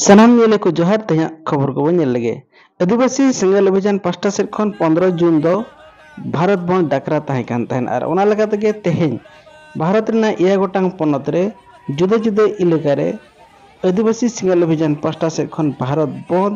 ᱥᱟᱱᱟᱢ ᱧᱮᱞᱮ ᱠᱚ ᱡᱚᱦᱟᱨ ᱛᱮᱦᱮᱧᱟᱜ ᱠᱷᱚᱵᱚᱨ ᱠᱚᱵᱚᱱ ᱧᱮᱞ ᱞᱮᱜᱮ ᱟᱹᱫᱤᱵᱟᱹᱥᱤ ᱥᱮᱸᱜᱮᱞ ᱚᱵᱷᱤᱡᱟᱱ ᱯᱟᱥᱴᱟ ᱥᱮᱫ ᱠᱷᱚᱱ ᱯᱚᱱᱫᱨᱚ ᱡᱩᱱ ᱫᱚ ᱵᱷᱟᱨᱚᱛ ᱵᱚᱱ ᱰᱟᱠᱨᱟ ᱛᱟᱦᱮᱸ ᱠᱟᱱ ᱛᱟᱦᱮᱱ ᱟᱨ ᱚᱱᱟ ᱞᱮᱠᱟ ᱛᱮᱜᱮ ᱛᱮᱦᱮᱧ ᱵᱷᱟᱨᱚᱛ ᱨᱮᱱᱟᱜ ᱮᱭᱟᱭ ᱜᱚᱴᱟᱝ ᱯᱚᱱᱚᱛ ᱨᱮ ᱡᱩᱫᱟᱹ ᱡᱩᱫᱟᱹ ᱮᱞᱟᱠᱟ ᱨᱮ ᱟᱹᱫᱤᱵᱟᱹᱥᱤ ᱥᱮᱸᱜᱮᱞ ᱚᱵᱷᱤᱡᱟᱱ ᱯᱟᱥᱴᱟ ᱥᱮᱫ ᱠᱷᱚᱱ ᱵᱷᱟᱨᱚᱛ ᱵᱚᱱᱫ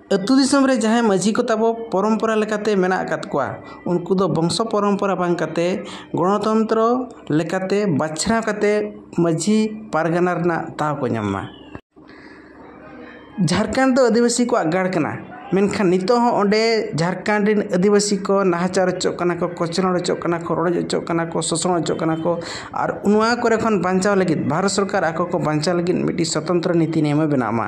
ᱟᱹᱛᱩ ᱫᱤᱥᱚᱢ ᱨᱮ ᱡᱟᱦᱟᱸᱭ ᱢᱟᱹᱡᱷᱤ ᱠᱚ ᱛᱟᱵᱚ ᱯᱚᱨᱚᱢᱯᱚᱨᱟ ᱞᱮᱠᱟᱛᱮ ᱢᱮᱱᱟᱜ ᱟᱠᱟᱫ ᱠᱚᱣᱟ ᱩᱱᱠᱩ ᱫᱚ ᱵᱚᱝᱥᱚ ᱯᱚᱨᱚᱢᱯᱚᱨᱟ ᱵᱟᱝ ᱠᱟᱛᱮᱫ ᱜᱚᱱᱚᱛᱚᱱᱛᱨᱚ ᱞᱮᱠᱟᱛᱮ ᱵᱟᱪᱷᱱᱟᱣ ᱠᱟᱛᱮᱫ ᱢᱟᱹᱡᱷᱤ ᱯᱟᱨᱜᱟᱱᱟ ᱨᱮᱱᱟᱜ ᱫᱟᱣ ᱠᱚ ᱧᱟᱢ ᱢᱟ ᱡᱷᱟᱲᱠᱷᱚᱸᱰ ᱫᱚ ᱟᱹᱫᱤᱵᱟᱹᱥᱤ ᱠᱚᱣᱟᱜ ᱜᱟᱲ ᱠᱟᱱᱟ ᱢᱮᱱᱠᱷᱟᱱ ᱱᱤᱛᱚᱜ ᱦᱚᱸ ᱚᱸᱰᱮ ᱡᱷᱟᱲᱠᱷᱚᱸᱰ ᱨᱮᱱ ᱟᱹᱫᱤᱵᱟᱹᱥᱤ ᱠᱚ ᱱᱟᱦᱟᱪᱟᱨ ᱦᱚᱪᱚᱜ ᱠᱟᱱᱟ ᱠᱚ ᱠᱚᱪᱞᱚᱱ ᱦᱚᱪᱚᱜ ᱠᱟᱱᱟ ᱠᱚ ᱨᱚᱰᱚᱡ ᱦᱚᱪᱚᱜ ᱠᱟᱱᱟ ᱠᱚ ᱥᱳᱥᱳᱱ ᱦᱚᱪᱚᱜ ᱠᱟᱱᱟ ᱠᱚ ᱟᱨ ᱱᱚᱣᱟ ᱠᱚᱨᱮ ᱠᱷᱚᱱ ᱵᱟᱧᱪᱟᱣ ᱞᱟᱹᱜᱤᱫ ᱵᱷᱟᱨᱚᱛ ᱥᱚᱨᱠᱟᱨ ᱟᱠᱚ ᱠᱚ ᱵᱟᱧᱪᱟᱣ ᱞᱟᱹᱜᱤᱫ ᱢᱤᱫᱴᱤᱡ ᱥᱚᱛᱚᱱᱛᱨᱚ ᱱᱤᱛᱤ ᱱᱤᱭᱚᱢᱮ ᱵᱮᱱᱟᱣ ᱢᱟ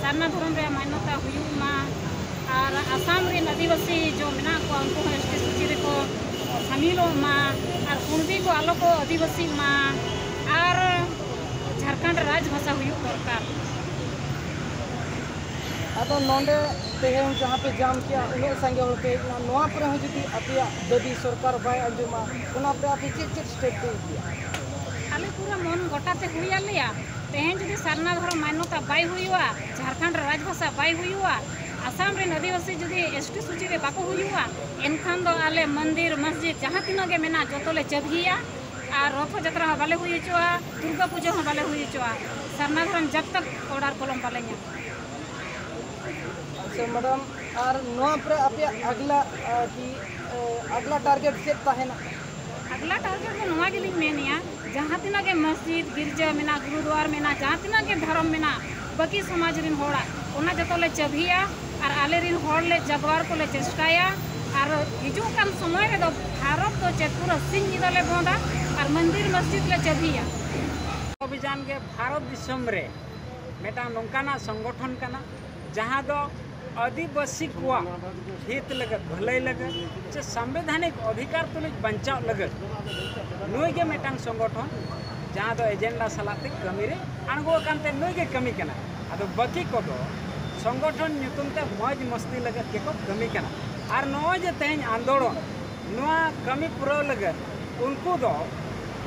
ᱥᱟᱨᱱᱟ ᱫᱷᱚᱨᱚᱢ ᱨᱮᱭᱟᱜ ᱢᱟᱱᱱᱚᱛᱟ ᱦᱩᱭᱩᱜ ᱢᱟ ᱟᱨ ᱟᱥᱟᱢ ᱨᱮᱱ ᱟᱹᱫᱤᱵᱟᱹᱥᱤ ᱡᱚ ᱢᱮᱱᱟᱜ ᱠᱚᱣᱟ ᱩᱱᱠᱩ ᱦᱚᱸ ᱮᱥ ᱴᱤ ᱥᱩᱪᱤ ᱨᱮᱠᱚ ᱥᱟᱢᱤᱞᱚᱜ ᱢᱟ ᱟᱨ ᱠᱩᱬᱵᱤ ᱠᱚ ᱟᱞᱚ ᱠᱚ ᱟᱹᱫᱤᱵᱟᱹᱥᱤᱜ ᱢᱟ ᱟᱨ ᱡᱷᱟᱲᱠᱷᱚᱸᱰ ᱨᱮ ᱨᱟᱡᱽ ᱵᱷᱟᱥᱟ ᱦᱩᱭᱩᱜ ᱫᱚᱨᱠᱟᱨ ᱟᱫᱚ ᱱᱚᱰᱮ ᱛᱮᱦᱮᱧ ᱡᱟᱦᱟᱸ ᱯᱮ ᱡᱟᱢ ᱠᱮᱜᱼᱟ ᱩᱱᱟᱹᱜ ᱥᱟᱸᱜᱮ ᱦᱚᱲ ᱯᱮ ᱦᱮᱡ ᱮᱱᱟ ᱱᱚᱣᱟ ᱯᱚᱨᱮ ᱦᱚᱸ ᱡᱩᱫᱤ ᱟᱯᱮᱭᱟᱜ ᱫᱟᱹᱵᱤ ᱥᱚᱨᱠᱟᱨ ᱵᱟᱭ ᱟᱸᱡᱚᱢᱟ ᱚᱱᱟᱛᱮ ᱟᱯᱮ ᱪᱮᱫ ᱪᱮᱫ ᱥᱟᱹᱨᱫᱤ ᱤᱫᱤᱜᱼᱟ᱾ ᱟᱞᱮ ᱯᱩᱨᱟᱹ ᱢᱚᱱ ᱜᱚᱴᱟ ᱛᱮ ᱦᱩᱭ ᱟᱫ ᱞᱮᱭᱟ᱾ ᱛᱮᱦᱮᱧ ᱡᱩᱫᱤ ᱥᱟᱨᱱᱟ ᱫᱷᱚᱨᱚᱢ ᱢᱟᱱᱱᱚᱛᱟ ᱵᱟᱭ ᱦᱩᱭᱩᱜᱼᱟ, ᱡᱷᱟᱨᱠᱷᱚᱸᱰ ᱨᱮ ᱨᱟᱡᱽ ᱵᱷᱟᱥᱟ ᱵᱟᱭ ᱦᱩᱭᱩᱜᱼᱟ, ᱟᱥᱟᱢ ᱨᱮᱱ ᱟᱹᱫᱤᱵᱟᱹᱥᱤ ᱡᱩᱫᱤ ᱮᱥᱴᱤ ᱥᱩᱪᱤ ᱨᱮ ᱵᱟᱠᱚ ᱦᱩᱭᱩᱜᱼᱟ, ᱮᱱᱠᱷᱟᱱ ᱫᱚ ᱟᱞᱮ ᱢᱚᱱᱫᱤᱨ, ᱢᱚᱥᱡᱤᱫᱽ ᱡᱟᱦᱟᱸ ᱛᱤᱱᱟᱹᱜ ᱜᱮ ᱢᱮᱱᱟᱜᱼᱟ ᱡᱚᱛᱚ ᱞᱮ ᱪᱟᱹᱵᱷᱤᱭᱟ ᱟᱨ ᱨᱚᱛᱷᱚ ᱡᱟᱛᱨᱟ ᱦᱚᱸ ᱵᱟᱞᱮ ᱦᱩᱭ ᱦᱚᱪᱚᱜᱼᱟ, ᱫᱩᱨᱜᱟᱹ ᱯᱩᱡᱟᱹ ᱦᱚᱸ ᱵᱟᱞᱮ ᱦᱩᱭ ᱦᱚᱪᱚᱜᱼᱟ ᱥᱟᱨᱱᱟ ᱫᱷᱚᱨᱚᱢ ᱡᱚᱵᱽ ᱛᱚᱠ ᱚᱰᱟᱨ ᱠᱚᱞᱚᱢ ᱵᱟᱞᱮ ᱧᱟᱢᱟ᱾ ᱟᱪᱪᱷᱟ ᱢᱮᱰᱟᱢ ᱟᱨ ᱱᱚᱣᱟ ᱯᱚᱨᱮ ᱟᱯᱮᱭᱟᱜ ᱟᱜᱽᱞᱟ ᱠᱤ ᱟᱜᱽᱞᱟ ᱴᱟᱨᱜᱮᱴ ᱪᱮᱫ ᱛᱟᱦᱮᱸᱱᱟ? ᱟᱜᱽᱞᱟ ᱴᱟᱨᱜᱮᱴ ᱫᱚ ᱱᱚᱣᱟ ᱜᱮᱞᱤᱧ ᱢᱮᱱᱮᱜᱼᱟ ᱡᱟᱦᱟᱸ ᱛᱤᱱᱟᱹᱜ ᱜᱮ ᱢᱚᱥᱡᱤᱫᱽ ᱜᱤᱨᱡᱟᱹ ᱢᱮᱱᱟᱜ ᱜᱩᱨᱩᱫᱩᱣᱟᱨ ᱢᱮᱱᱟᱜ ᱡᱟᱦᱟᱸ ᱛᱤᱱᱟᱹᱜ ᱜᱮ ᱫᱷᱚᱨᱚᱢ ᱢᱮᱱᱟᱜ ᱵᱟᱹᱠᱤ ᱥᱚᱢᱟᱡᱽ ᱨᱮᱱ ᱦᱚᱲᱟᱜ ᱚᱱᱟ ᱡᱚᱛᱚ ᱞᱮ ᱪᱟᱹᱵᱷᱤᱭᱟ ᱟᱨ ᱟᱞᱮ ᱨᱮᱱ ᱦᱚᱲ ᱞᱮ ᱡᱟᱜᱽᱣᱟᱨ ᱠᱚᱞᱮ ᱪᱮᱥᱴᱟᱭᱟ ᱟᱨ ᱦᱤᱡᱩᱜ ᱠᱟᱱ ᱥᱚᱢᱚᱭ ᱨᱮᱫᱚ ᱵᱷᱟᱨᱚᱛ ᱫᱚ ᱪᱮᱫ ᱯᱩᱨᱟᱹ ᱥᱤᱧ ᱧᱤᱫᱟᱹ ᱞᱮ ᱵᱚᱸᱫᱟ ᱟᱨ ᱢᱚᱱᱫᱤᱨ ᱢᱚᱥᱡᱤᱫᱽ ᱞᱮ ᱪᱟᱹᱵᱷᱤᱭᱟ ᱚᱵᱷᱤᱡᱟᱱ ᱜᱮ ᱵᱷᱟᱨᱚᱛ ᱫᱤᱥᱚᱢ ᱨᱮ ᱢᱤᱫᱴᱟᱝ ᱱᱚᱝᱠᱟᱱᱟᱜ ᱥᱚᱝᱜᱚᱴᱷᱚᱱ ᱠᱟᱱᱟ ᱡᱟᱦᱟᱸ ᱫᱚ ᱟᱹᱫᱤᱵᱟᱹᱥᱤ ᱠᱚᱣᱟᱜ ᱦᱤᱛ ᱞᱟᱹᱜᱤᱫ ᱵᱷᱟᱹᱞᱟᱹᱭ ᱞᱟᱹᱜᱤᱫ ᱥᱮ ᱥᱟᱢᱵᱤᱫᱷᱟᱱᱤᱠ ᱚᱫᱷᱤᱠᱟᱨ ᱛᱩᱞᱩᱡ ᱵᱟᱧᱪᱟᱣ ᱞᱟᱹᱜᱤᱫ ᱱᱩᱭ ᱜᱮ ᱢᱤᱫᱴᱟᱝ ᱥᱚᱝᱜᱚᱴᱷᱚᱱ ᱡᱟᱦᱟᱸ ᱫᱚ ᱮᱡᱮᱱᱰᱟ ᱥᱟᱞᱟᱜ ᱛᱮ ᱠᱟᱹᱢᱤ ᱨᱮ ᱟᱬᱜᱚ ᱟᱠᱟᱱ ᱛᱮ ᱱᱩᱭ ᱜᱮ ᱠᱟᱹᱢᱤ ᱠᱟᱱᱟ ᱟᱫᱚ ᱵᱟᱹᱠᱤ ᱠᱚᱫᱚ ᱥᱚᱝᱜᱚᱴᱷᱚᱱ ᱧᱩᱛᱩᱢ ᱛᱮ ᱢᱚᱡᱽ ᱢᱚᱥᱛᱤ ᱞᱟᱹᱜᱤᱫ ᱜᱮᱠᱚ ᱠᱟᱹᱢᱤ ᱠᱟᱱᱟ ᱟᱨ ᱱᱚᱜᱼᱚᱭ ᱡᱮ ᱛᱮᱦᱮᱧ ᱟᱱᱫᱳᱲᱚᱱ ᱱᱚᱣᱟ ᱠᱟᱹᱢᱤ ᱯᱩᱨᱟᱹᱣ ᱞᱟᱹᱜᱤᱫ ᱩᱱᱠᱩ ᱫᱚ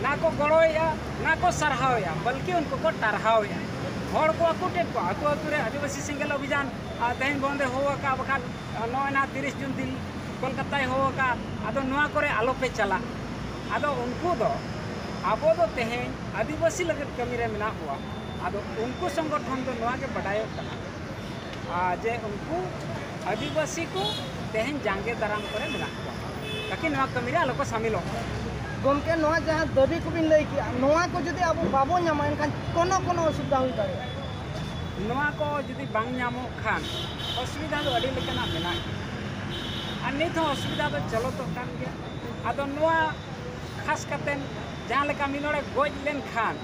ᱱᱟ ᱠᱚ ᱜᱚᱲᱚᱭᱮᱫᱼᱟ ᱱᱟ ᱠᱚ ᱥᱟᱨᱦᱟᱣᱮᱫᱼᱟ ᱵᱚᱞᱠᱤ ᱩᱱᱠᱩ ᱠᱚ ᱴᱟᱨᱦᱟᱣᱮᱫᱼᱟ ᱦᱚᱲ ᱠᱚ ᱟᱹᱠᱩ ᱠᱮᱫ ᱠᱚᱣᱟ ᱟᱹᱠᱩ ᱟᱹᱛᱩ ᱨᱮ ᱟᱹᱫᱤᱵᱟᱹᱥᱤ ᱥᱮᱸᱜᱮᱞ ᱚᱵᱷᱤᱡᱟᱱ ᱛᱮᱦᱮᱧ ᱵᱚᱱᱫᱮ ᱦᱚᱦᱚ ᱟᱠᱟᱫᱼᱟ ᱵᱟᱠᱷᱟᱱ ᱱᱚᱜᱼᱚᱭ ᱱᱟᱦᱟᱜ ᱛᱤᱨᱤᱥ ᱡᱩᱱ ᱫᱤᱱ ᱠᱳᱞᱠᱟᱛᱟᱭ ᱦᱚᱦᱚ ᱟᱠᱟᱫᱼᱟ ᱟᱫᱚ ᱱᱚᱣᱟ ᱠᱚᱨᱮ ᱟᱞᱚ ᱯᱮ ᱪᱟᱞᱟᱜ ᱟᱫᱚ ᱩᱱᱠᱩ ᱫᱚ ᱟᱵᱚ ᱫᱚ ᱛᱮᱦᱮᱧ ᱟᱹᱫᱤᱵᱟᱹᱥᱤ ᱞᱟᱹᱜᱤᱫ ᱠᱟᱹᱢᱤ ᱨᱮ ᱢᱮᱱᱟᱜ ᱵᱚᱱᱟ ᱟᱫᱚ ᱩᱱᱠᱩ ᱥᱚᱝᱜᱚᱴᱷᱚᱱ ᱫᱚ ᱱᱚᱣᱟ ᱜᱮ ᱵᱟᱰᱟᱭᱚᱜ ᱠᱟᱱᱟ ᱡᱮ ᱩᱱᱠᱩ ᱟᱹᱫᱤᱵᱟᱹᱥᱤ ᱠᱚ ᱛᱮᱦᱮᱧ ᱡᱟᱸᱜᱮ ᱫᱟᱨᱟᱢ ᱠᱚᱨᱮ ᱢᱮᱱᱟᱜ ᱠᱚᱣᱟ ᱛᱟᱠᱤ ᱱᱚᱣᱟ ᱠᱟᱹᱢᱤ ᱨᱮ ᱟᱞᱚ ᱠᱚ ᱥᱟᱢᱤᱞᱚᱜ ᱜᱚᱢᱠᱮ ᱱᱚᱣᱟ ᱡᱟᱦᱟᱸ ᱫᱟᱹᱵᱤ ᱠᱚᱵᱤᱱ ᱞᱟᱹᱭ ᱠᱮᱜᱼᱟ ᱱᱚᱣᱟ ᱠᱚ ᱡᱩᱫᱤ ᱟᱵᱚ ᱵᱟᱵᱚ ᱧᱟᱢᱟ ᱮᱱᱠᱷᱟᱱ ᱠᱳᱱᱳ ᱠᱳᱱᱳ ᱚᱥᱩᱵᱤᱫᱷᱟ ᱦᱩᱭ ᱫᱟᱲᱮᱭᱟᱜᱼᱟ ᱱᱚᱣᱟ ᱠᱚ ᱡᱩᱫᱤ ᱵᱟᱝ ᱧᱟᱢᱚᱜ ᱠᱷᱟᱱ ᱚᱥᱩᱵᱤᱫᱷᱟ ᱫᱚ ᱟᱹᱰᱤ ᱞᱮᱠᱟᱱᱟᱜ ᱢᱮᱱᱟᱜ ᱟᱨ ᱱᱤᱛ ᱦᱚᱸ ᱚᱥᱩᱵᱤᱫᱷᱟ ᱫᱚ ᱪᱚᱞᱚᱛᱚᱜ ᱠᱟᱱ ᱜᱮᱭᱟ ᱟᱫᱚ ᱱᱚᱣᱟ ᱠᱷᱟᱥ ᱠᱟᱛᱮ ᱡᱟᱦᱟᱸ ᱞᱮᱠᱟ ᱢᱤᱫ ᱦᱚᱲᱮ ᱜᱚᱡ ᱞᱮᱱᱠᱷᱟᱱ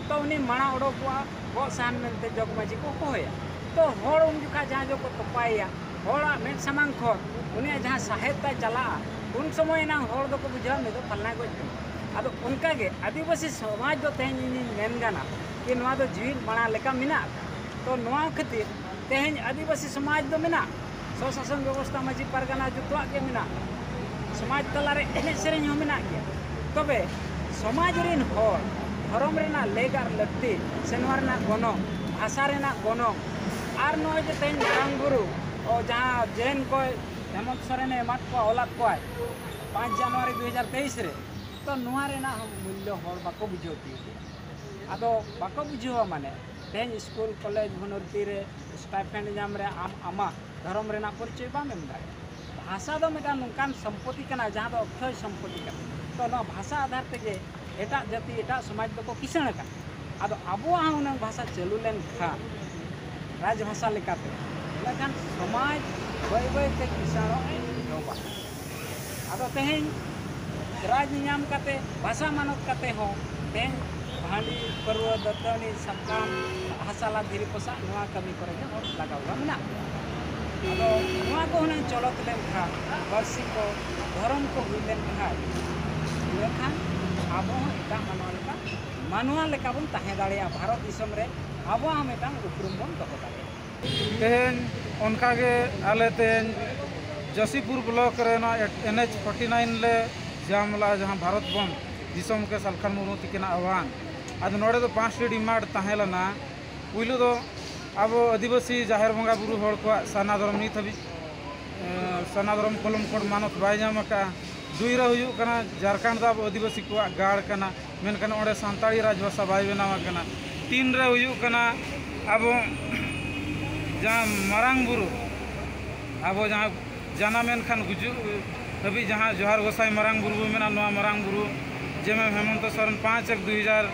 ᱛᱚ ᱩᱱᱤ ᱢᱟᱲᱟᱝ ᱚᱰᱚᱠᱚᱜᱼᱟ ᱜᱚᱜ ᱥᱟᱦᱟᱱ ᱢᱮᱱᱛᱮ ᱡᱚᱜᱽ ᱢᱟᱹᱡᱷᱤ ᱠᱚ ᱦᱚᱦᱚᱣᱟᱭᱟ ᱛᱚ ᱦᱚᱲ ᱩᱱ ᱡᱚᱠᱷᱟᱡ ᱡᱟᱦᱟᱸ ᱡᱚᱜᱽ ᱠᱚ ᱛᱚᱯᱟᱭᱮᱭᱟ ᱦᱚᱲᱟᱜ ᱢᱮᱫ ᱥᱟᱢᱟᱝ ᱠᱷᱚᱱ ᱩᱱᱤᱭᱟᱜ ᱡᱟᱦᱟᱸ ᱥᱟᱦᱮᱫ ᱛᱟᱭ ᱪᱟᱞᱟᱜᱼᱟ ᱩᱱ ᱥᱚᱢᱚᱭ ᱮᱱᱟᱝ ᱦᱚᱲ ᱫᱚᱠᱚ ᱵᱩᱡᱷᱟᱹᱣᱟ ᱱᱩᱭ ᱫᱚ ᱯᱷᱟᱞᱱᱟᱭ ᱜᱚᱡ ᱠᱟᱱᱟ ᱟᱫᱚ ᱚᱱᱠᱟ ᱜᱮ ᱟᱹᱫᱤᱵᱟᱹᱥᱤ ᱥᱚᱢᱟᱡᱽ ᱫᱚ ᱛᱮᱦᱮᱧ ᱤᱧᱤᱧ ᱢᱮᱱ ᱜᱟᱱᱟ ᱡᱮ ᱱᱚᱣᱟ ᱫᱚ ᱡᱤᱣᱤᱫ ᱢᱟᱲᱟᱝ ᱞᱮᱠᱟ ᱢᱮᱱᱟᱜᱼᱟ ᱛᱚ ᱱᱚᱣᱟ ᱠᱷᱟᱹᱛᱤᱨ ᱛᱮᱦᱮᱧ ᱟᱹᱫᱤᱵᱟᱹᱥᱤ ᱥᱚᱢᱟᱡᱽ ᱫᱚ ᱢᱮᱱᱟᱜᱼᱟ ᱥᱚᱥᱟᱥᱚᱱ ᱵᱮᱵᱚᱥᱛᱷᱟ ᱢᱟᱺᱡᱷᱤ ᱯᱟᱨᱜᱟᱱᱟ ᱡᱚᱛᱚᱣᱟᱜ ᱜᱮ ᱢᱮᱱᱟᱜᱼᱟ ᱥᱚᱢᱟᱡᱽ ᱛᱟᱞᱟᱨᱮ ᱮᱱᱮᱡ ᱥᱮᱨᱮᱧ ᱦᱚᱸ ᱢᱮᱱᱟᱜ ᱜᱮᱭᱟ ᱛᱚᱵᱮ ᱥᱚᱢᱟᱡᱽ ᱨᱮᱱ ᱦᱚᱲ ᱫᱷᱚᱨᱚᱢ ᱨᱮᱱᱟᱜ ᱞᱮᱠ ᱟᱨ ᱞᱟᱹᱠᱛᱤ ᱥᱮ ᱱᱚᱣᱟ ᱨᱮᱱᱟᱜ ᱜᱚᱱᱚᱝ ᱵᱷᱟᱥᱟ ᱨᱮᱱᱟᱜ ᱜᱚᱱᱚᱝ ᱟᱨ ᱱᱚᱜᱼᱚᱭ ᱡᱮ ᱛᱮᱦᱮᱧ ᱢᱟᱨᱟᱝ ᱵᱩᱨᱩ ᱡᱟᱦᱟᱸ ᱡᱮᱱ ᱠᱚᱭ ᱦᱮᱢᱚᱱᱛ ᱥᱚᱨᱮᱱᱮ ᱮᱢᱟᱫ ᱠᱚᱣᱟ ᱚᱞᱟᱫ ᱠᱚᱣᱟᱭ ᱯᱟᱸᱪ ᱡᱟᱱᱩᱣᱟᱨᱤ ᱫᱩ ᱦᱟᱡᱟᱨ ᱛᱮᱭᱤᱥ ᱨᱮ ᱛᱚ ᱱᱚᱣᱟ ᱨᱮᱱᱟᱜ ᱦᱚᱸ ᱢᱩᱞᱞᱚ ᱦᱚᱲ ᱵᱟᱠᱚ ᱵᱩᱡᱷᱟᱹᱣ ᱛᱤᱭᱳᱜᱮᱜᱼᱟ ᱟᱫᱚ ᱵᱟᱠᱚ ᱵᱩᱡᱷᱟᱹᱣᱟ ᱢᱟᱱᱮ ᱛᱮᱦᱮᱧ ᱥᱠᱩᱞ ᱠᱚᱞᱮᱡᱽ ᱵᱷᱚᱨᱛᱤ ᱨᱮ ᱥᱴᱟᱭᱯᱷᱮᱱᱰ ᱧᱟᱢ ᱨᱮ ᱟᱢ ᱟᱢᱟᱜ ᱫᱷᱚᱨᱚᱢ ᱨᱮᱱᱟᱜ ᱯᱚᱨᱤᱪᱚᱭ ᱵᱟᱢ ᱮᱢ ᱫᱟᱲᱮᱭᱟᱜᱼᱟ ᱵᱷᱟᱥᱟ ᱫᱚ ᱢᱤᱫᱴᱟᱝ ᱱᱚᱝᱠᱟᱱ ᱥᱚᱢᱯᱚᱛᱤ ᱠᱟᱱᱟ ᱡᱟᱦᱟᱸ ᱫᱚ ᱚᱠᱠᱷᱚᱭ ᱥᱚᱢᱯᱚᱛᱤ ᱠᱟᱱᱟ ᱛᱚ ᱱᱚᱣᱟ ᱵᱷᱟᱥᱟ ᱟᱫᱷᱟᱨ ᱛᱮᱜᱮ ᱮᱴᱟᱜ ᱡᱟᱹᱛᱤ ᱮᱴᱟᱜ ᱥᱚᱢᱟᱡᱽ ᱫᱚᱠᱚ ᱠᱤᱥᱟᱹᱬ ᱟᱠᱟᱱᱟ ᱟᱫᱚ ᱟᱵᱚᱣᱟᱜ ᱦᱚᱸ ᱩᱱᱟᱹᱝ ᱵᱷᱟᱥᱟ ᱪᱟᱹᱞᱩ ᱞᱮᱱᱠᱷᱟᱱ ᱨᱟᱡᱽ ᱵᱷᱟᱥᱟ ᱞᱮᱠᱟᱛᱮ ᱤᱱᱟᱹᱠᱷᱟᱱ ᱥᱚᱢᱟᱡᱽ ᱵᱟᱹᱭ ᱵᱟᱹᱭᱛᱮ ᱠᱤᱥᱟᱹᱬᱚᱜ ᱮ ᱮᱦᱚᱵᱟ ᱟᱫᱚ ᱛᱮᱦᱮᱧ ᱨᱟᱡᱽ ᱧᱟᱢ ᱠᱟᱛᱮ ᱵᱷᱟᱥᱟ ᱢᱟᱱᱚᱛ ᱠᱟᱛᱮ ᱦᱚᱸ ᱛᱮᱦᱮᱧ ᱦᱟᱺᱰᱤ ᱯᱟᱹᱨᱣᱟᱹ ᱫᱟᱹᱛᱟᱹᱱᱤ ᱥᱟᱠᱟᱢ ᱦᱟᱥᱟᱞᱟ ᱫᱷᱤᱨᱤ ᱯᱚᱥᱟᱜ ᱱᱚᱣᱟ ᱠᱟᱹᱢᱤ ᱠᱚᱨᱮ ᱜᱮ ᱦᱚᱲ ᱞᱟᱜᱟᱣ ᱠᱚᱣᱟ ᱢᱮᱱᱟᱜ ᱠᱚᱣᱟ ᱟᱫᱚ ᱱᱚᱣᱟ ᱠᱚ ᱦᱩᱱᱟᱹᱝ ᱪᱚᱞᱚᱛ ᱞᱮᱱᱠᱷᱟᱱ ᱯᱟᱹᱨᱥᱤ ᱠᱚ ᱫᱷᱚᱨᱚᱢ ᱠᱚ ᱦᱩᱭ ᱞᱮᱱᱠᱷᱟᱱ ᱤᱱᱟᱹᱠᱷᱟᱱ ᱟᱵᱚ ᱦᱚᱸ ᱮᱴᱟᱜ ᱢᱟᱱᱣᱟ ᱞᱮᱠᱟ ᱢᱟᱱᱣᱟ ᱞᱮᱠᱟ ᱵᱚᱱ ᱛᱟᱦᱮᱸ ᱫᱟᱲᱮᱭᱟᱜᱼᱟ ᱵᱷᱟᱨᱚᱛ ᱫᱤᱥᱚᱢ ᱨᱮ ᱟᱵᱚᱣᱟᱜ ᱦᱚᱸ ᱢᱤᱫᱴᱟᱝ ᱩᱯᱨᱩᱢ ᱵᱚᱱ ᱫᱚᱦᱚ ᱫᱟᱲᱮᱭᱟᱜᱼᱟ ᱛᱮᱦᱮᱧ ᱚᱱᱠᱟ ᱜᱮ ᱟᱞᱮ ᱛᱮᱦᱮᱧ ᱡᱚᱥᱤᱯᱩᱨ ᱵᱞᱚᱠ ᱨᱮᱱᱟᱜ ᱮᱱ ᱮᱪ ᱯᱷᱳᱨᱴᱤ ᱱᱟᱭᱤᱱ ᱞᱮ ᱡᱟᱢ ᱞᱮᱫᱼᱟ ᱡᱟᱦᱟᱸ ᱵᱷᱟᱨᱚᱛ ᱵᱚᱱᱫᱽ ᱫᱤᱥᱚᱢ ᱜᱮ ᱥᱟᱞᱠᱷᱟᱱ ᱢᱩᱨᱢᱩ ᱛᱟᱹᱠᱤᱱᱟᱜ ᱟᱦᱣᱟᱱ ᱟᱫᱚ ᱱᱚᱰᱮ ᱫᱚ ᱯᱟᱸᱪᱴᱤ ᱰᱤᱢᱟᱱᱰ ᱛᱟᱦᱮᱸ ᱞᱮᱱᱟ ᱯᱩᱭᱞᱩ ᱫᱚ ᱟᱵᱚ ᱟᱹᱫᱤᱵᱟᱹᱥᱤ ᱡᱟᱦᱮᱨ ᱵᱚᱸᱜᱟ ᱵᱩᱨᱩ ᱦᱚᱲ ᱠᱚᱣᱟᱜ ᱥᱟᱨᱱᱟ ᱫᱷᱚᱨᱚᱢ ᱱᱤᱛ ᱦᱟᱹᱵᱤᱡ ᱥᱟᱨᱱᱟ ᱫᱷᱚᱨᱚᱢ ᱠᱚᱞᱚᱢ ᱠᱳᱰ ᱢᱟᱱᱚᱛ ᱵᱟᱭ ᱧᱟᱢ ᱟᱠᱟᱫᱼᱟ ᱫᱩᱭ ᱨᱮ ᱦᱩᱭᱩᱜ ᱠᱟᱱᱟ ᱡᱷᱟᱲᱠᱷᱚᱸᱰ ᱫᱚ ᱟᱵᱚ ᱟᱹᱫᱤᱵᱟᱹᱥᱤ ᱠᱚᱣᱟᱜ ᱜᱟᱲ ᱠᱟᱱᱟ ᱢᱮᱱᱠᱷᱟᱱ ᱚᱸᱰᱮ ᱥᱟᱱᱛᱟᱲᱤ ᱨᱟᱡᱽ ᱵᱷᱟᱥᱟ ᱵᱟᱭ ᱵᱮᱱᱟᱣ ᱟᱠᱟᱱᱟ ᱛᱤᱱ ᱨᱮ ᱦᱩᱭᱩᱜ ᱠᱟᱱᱟ ᱟᱵᱚ ᱡᱟᱦᱟᱸ ᱢᱟᱨᱟᱝ ᱵᱩᱨᱩ ᱟᱵᱚ ᱡᱟᱦᱟᱸ ᱡᱟᱱᱟᱢ ᱮᱱ ᱠᱷᱟᱱ ᱜᱩᱡᱩᱜ ᱦᱟᱹᱵᱤᱡ ᱡᱟᱦᱟᱸ ᱡᱚᱦᱟᱨ ᱜᱚᱸᱥᱟᱭ ᱢᱟᱨᱟᱝ ᱵᱩᱨᱩ ᱵᱚᱱ ᱢᱮᱱᱟ ᱱᱚᱣᱟ ᱢᱟᱨᱟᱝ ᱵᱩᱨᱩ ᱡᱮ ᱢᱮᱢ ᱦᱮᱢᱚᱱᱛᱚ ᱥᱚᱨᱮᱱ ᱯᱟᱸᱪ ᱮᱠ ᱫᱩ ᱦᱟᱡᱟᱨ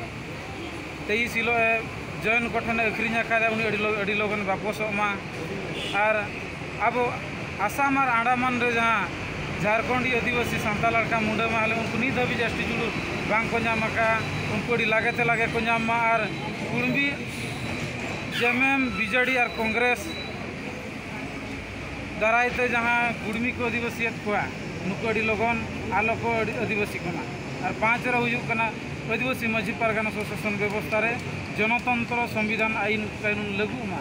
ᱛᱮᱭᱤᱥ ᱦᱤᱞᱳᱜ ᱮ ᱡᱚᱭᱮᱱ ᱠᱚᱴᱷᱮᱱᱮ ᱟᱹᱠᱷᱨᱤᱧ ᱟᱠᱟᱫᱟ ᱩᱱᱤ ᱟᱹᱰᱤ ᱞᱚᱜᱚᱱ ᱵᱟᱯᱚᱥᱚᱜ ᱢᱟ ᱟᱨ ᱟᱵᱚ ᱟᱥᱟᱢ ᱟᱨ ᱟᱱᱰᱟᱢᱟᱱ ᱨᱮ ᱡᱟᱦᱟᱸ ᱡᱷᱟᱨᱠᱷᱚᱸᱰᱤ ᱟᱹᱫᱤᱵᱟᱹᱥᱤ ᱥᱟᱱᱛᱟᱲ ᱟᱨ ᱠᱷᱟᱱ ᱢᱩᱸᱰᱟᱹ ᱢᱟᱦᱞᱮ ᱩᱱᱠᱩ ᱱᱤᱛ ᱫᱷᱟᱹᱵᱤᱡ ᱮᱥ ᱴᱤ ᱡᱩᱲᱩ ᱵᱟᱝ ᱠᱚ ᱧᱟᱢ ᱟᱠᱟᱫᱼᱟ ᱩᱱᱠᱩ ᱟᱹᱰᱤ ᱞᱟᱜᱮ ᱛᱮ ᱞᱟᱜᱮ ᱠᱚ ᱧᱟᱢ ᱢᱟ ᱟᱨ ᱠᱩᱬᱵᱤ ᱡᱮ ᱮᱢ ᱮᱢ ᱵᱤ ᱡᱮ ᱰᱤ ᱟᱨ ᱠᱚᱝᱜᱽᱨᱮᱥ ᱫᱟᱨᱟᱭ ᱛᱮ ᱡᱟᱦᱟᱸ ᱠᱩᱬᱵᱤ ᱠᱚ ᱟᱹᱫᱤᱵᱟᱹᱥᱤᱭᱮᱫ ᱠᱚᱣᱟ ᱱᱩᱠᱩ ᱟᱹᱰᱤ ᱞᱚᱜᱚᱱ ᱟᱞᱚ ᱠᱚ ᱟᱹᱰᱤ ᱟᱹᱫᱤᱵᱟᱹᱥᱤ ᱠᱚ ᱢᱟ ᱟᱨ ᱯᱟᱸᱪ ᱨᱮ ᱦᱩᱭᱩᱜ ᱠᱟᱱᱟ ᱟᱹᱫᱤᱵᱟᱹᱥᱤ ᱢᱟᱹᱡᱷᱤ ᱯᱟᱨᱜᱟᱱᱟ ᱥᱚ ᱥᱟᱥᱚᱱ ᱵᱮᱵᱚᱥᱛᱷᱟ ᱨᱮ ᱡᱚᱱᱚᱛᱚᱱᱛᱨᱚ ᱥᱚᱝᱵᱤᱫᱷᱟᱱ ᱟᱹᱭᱤᱱ ᱠᱟᱹᱱᱩᱱ ᱞᱟᱹᱜᱩᱜ ᱢᱟ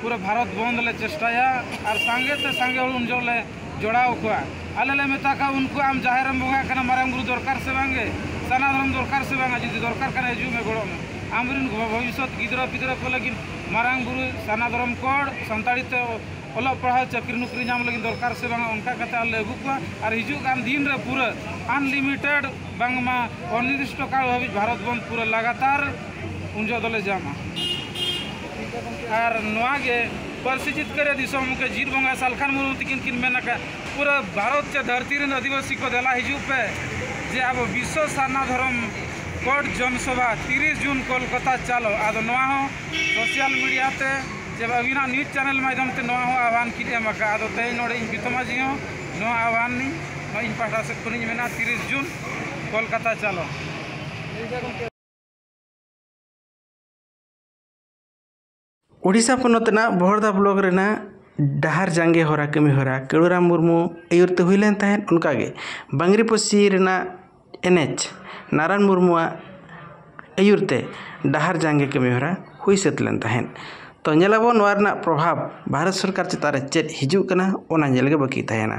ᱯᱩᱨᱟᱹ ᱵᱷᱟᱨᱚᱛ ᱵᱚᱱᱫᱽ ᱞᱮ ᱪᱮᱥᱴᱟᱭᱟ ᱟᱨ ᱥᱟᱸᱜᱮ ᱛᱮ ᱥᱟᱸᱜᱮ ᱦᱚᱲ ᱩᱱ ᱡᱚᱦᱚᱜ ᱞᱮ ᱡᱚᱲᱟᱣ ᱠᱚᱣᱟ ᱟᱞᱮ ᱞᱮ ᱢᱮᱛᱟ ᱠᱚᱣᱟ ᱩᱱᱠᱩ ᱟᱢ ᱡᱟᱦᱮᱨ ᱨᱮᱢ ᱵᱚᱸᱜᱟᱜ ᱠᱟᱱᱟ ᱢᱟᱨᱟᱝ ᱵᱩᱨᱩ ᱫᱚᱨᱠᱟᱨ ᱥᱮ ᱵᱟᱝ ᱜᱮ ᱥᱟᱨᱱᱟ ᱫᱷᱚᱨᱚᱢ ᱫᱚᱨᱠᱟᱨ ᱥᱮ ᱵᱟᱝ ᱡᱩᱫᱤ ᱫᱚᱨᱠᱟᱨ ᱠᱷᱟᱱ ᱦᱤᱡᱩᱜ ᱢᱮ ᱜᱚᱲᱚᱜ ᱢᱮ ᱟᱢ ᱨᱮᱱ ᱵᱷᱚᱵᱤᱥᱥᱚᱛ ᱜᱤᱫᱽᱨᱟᱹ ᱯᱤᱫᱽᱨᱟᱹ ᱠᱚ ᱞᱟᱹᱜᱤᱫ ᱢᱟᱨᱟᱝ ᱵᱩᱨᱩ ᱥᱟᱨᱱᱟ ᱫᱷᱚᱨᱚᱢ ᱠᱚᱲ ᱥᱟᱱᱛᱟᱲᱤ ᱛᱮ ᱚᱞᱚᱜ ᱯᱟᱲᱦᱟᱣ ᱪᱟᱹᱠᱨᱤ ᱱᱚᱠᱨᱤ ᱧᱟᱢ ᱞᱟᱹᱜᱤᱫ ᱫᱚᱨᱠᱟᱨ ᱥᱮ ᱵᱟᱝ ᱚᱱᱠᱟ ᱠᱟᱛᱮᱫ ᱟᱞᱮ ᱞᱮ ᱟᱹᱜᱩ ᱠᱚᱣᱟ ᱟᱨ ᱦᱤᱡᱩᱜ ᱠᱟᱱ ᱫᱤᱱ ᱨᱮ ᱯᱩᱨᱟᱹ ᱟᱱᱞᱤᱢᱤᱴᱮᱰ ᱵᱟᱝᱢᱟ ᱚᱱᱤᱨᱫᱤᱥᱴᱚ ᱠᱟᱞ ᱦᱟᱹᱵᱤᱡ ᱵᱷᱟᱨᱚᱛ ᱵᱚᱱᱫᱽ ᱯᱩᱨᱟᱹ ᱞᱟᱜᱟᱛᱟᱨ ᱩᱱ ᱡᱚᱦᱚᱜ ᱫᱚᱞᱮ ᱡᱟᱢᱟ ᱟᱨ ᱱᱚᱣᱟ ᱜᱮ ᱯᱟᱹᱨᱥᱤ ᱡᱤᱛᱠᱟᱹᱨᱤᱭᱟᱹ ᱫᱤᱥᱚᱢ ᱜᱚᱢᱠᱮ ᱡᱤᱛ ᱵᱚᱸᱜᱟ ᱥᱟᱞᱠᱷᱟᱱ ᱢᱩᱨᱢᱩ ᱛᱤᱠᱤᱱ ᱠᱤᱱ ᱢᱮᱱ ᱟᱠᱟᱫ ᱯᱩᱨᱟᱹ ᱵᱷᱟᱨᱚᱛ ᱪᱮ ᱫᱷᱟᱹᱨᱛᱤ ᱨᱮᱱ ᱟᱹᱫᱤᱵᱟᱹᱥᱤ ᱠᱚ ᱫᱮᱞᱟ ᱦᱤᱡᱩᱜ ᱯᱮ ᱡᱮ ᱟᱵᱚ ᱵᱤᱥᱥᱚ ᱥᱟᱨᱱᱟ ᱫᱷᱚᱨᱚᱢ ᱠᱳᱰ ᱡᱚᱱ ᱥᱚᱵᱷᱟ ᱛᱤᱨᱤᱥ ᱡᱩᱱ ᱠᱳᱞᱠᱟᱛᱟ ᱪᱟᱞᱳ ᱟᱫᱚ ᱱᱚᱣᱟ ᱦᱚᱸ ᱥᱳᱥᱟᱞ ᱢᱤᱰᱤᱭᱟ ᱛᱮ ᱪᱮ ᱟᱹᱵᱤᱱᱟᱜ ᱱᱤᱭᱩᱡᱽ ᱪᱮᱱᱮᱞ ᱢᱟᱫᱽᱫᱷᱚᱢ ᱛᱮ ᱱᱚᱣᱟ ᱦᱚᱸ ᱟᱦᱵᱟᱱ ᱠᱤᱱ ᱮᱢ ᱟᱠᱟᱫᱼᱟ ᱟᱫᱚ ᱛᱮᱦᱮᱧ ᱱᱚᱰᱮ ᱤᱧ ᱵᱤᱛᱟᱹ ᱢᱟᱹᱡᱷᱤ ᱦᱚᱸ ᱱᱚᱣᱟ ᱟᱦᱵᱟᱱ ᱤᱧ ᱱᱚᱣᱟ ᱤᱧ ᱯᱟᱦᱴᱟ ᱥᱮᱫ ᱠᱷᱚᱱᱤᱧ ᱢᱮᱱᱟ ᱛᱤᱨᱤᱥ ᱡᱩᱱ ᱠᱳᱞᱠᱟᱛᱟ ᱪᱟᱞᱳ ᱳᱰᱤᱥᱟ ᱯᱚᱱᱚᱛ ᱨᱮᱱᱟᱜ ᱵᱚᱦᱚᱲᱫᱟ ᱵᱞᱚᱠ ᱨᱮᱱᱟᱜ ᱰᱟᱦᱟᱨ ᱡᱟᱸᱜᱮ ᱦᱚᱨᱟ ᱠᱟᱹᱢᱤ ᱦᱚᱨᱟ ᱠᱟᱹᱲᱩᱨᱟᱢ ᱢᱩᱨᱢᱩ ᱟᱹᱭᱩᱨ ᱛᱮ ᱦᱩᱭ ᱞᱮᱱ ᱛᱟᱦᱮᱸᱫ ᱚᱱᱠᱟ ᱜᱮ ᱵᱟᱝᱨᱤ ᱯᱚᱥᱪᱤ ᱨᱮᱱᱟᱜ ᱮᱱᱮᱪ ᱱᱟᱨᱟᱱ ᱢᱩᱨᱢᱩᱣᱟᱜ ᱟᱹᱭᱩᱨ ᱛᱮ ᱰᱟᱦᱟᱨ ᱡᱟᱸᱜᱮ ᱠᱟᱹᱢᱤ ᱦᱚᱨᱟ ᱦᱩᱭ ᱥᱟᱹᱛ ᱞᱮᱱ ᱛᱟᱦᱮᱸᱫ ᱛᱚ ᱧᱮᱞ ᱟᱵᱚᱱ ᱱᱚᱣᱟ ᱨᱮᱱᱟᱜ ᱯᱨᱚᱵᱷᱟᱵᱽ ᱵᱷᱟᱨᱚᱛ ᱥᱚᱨᱠᱟᱨ ᱪᱮᱛᱟᱱ ᱨᱮ ᱪᱮᱫ ᱦᱤᱡᱩᱜ ᱠᱟᱱᱟ ᱚᱱᱟ ᱧᱮᱞ ᱜᱮ ᱵᱟᱹᱠᱤ ᱛᱟᱦᱮᱱᱟ